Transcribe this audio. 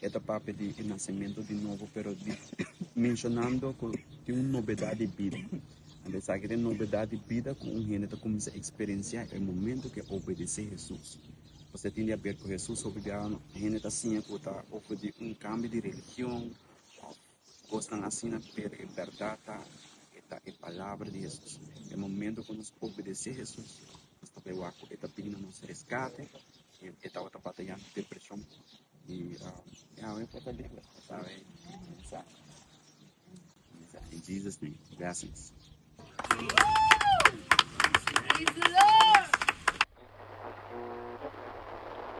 E ta papia di e nasementu di nobo pero menshonando ku tin un nobedat di bida. Ora esaki ta e nobedat di bida ku un hende ta kuminsá eksperensiá e momentu ku e obedesé Hesus. Ora e tin di haber ku Hesus, hende ta siña ku ta ofrendí un kambio di religion, Kosnan asina ta pega e bèrdat ta e ta e palabra di Hesus. E momentu ku nos obedesé Hesus, nos tabata wak ku e ta bini na nos reskate i e tabata batayá ku depreshon i Yahweh por ta libra. Sabi mensahe mensahe in Jesus name blessings.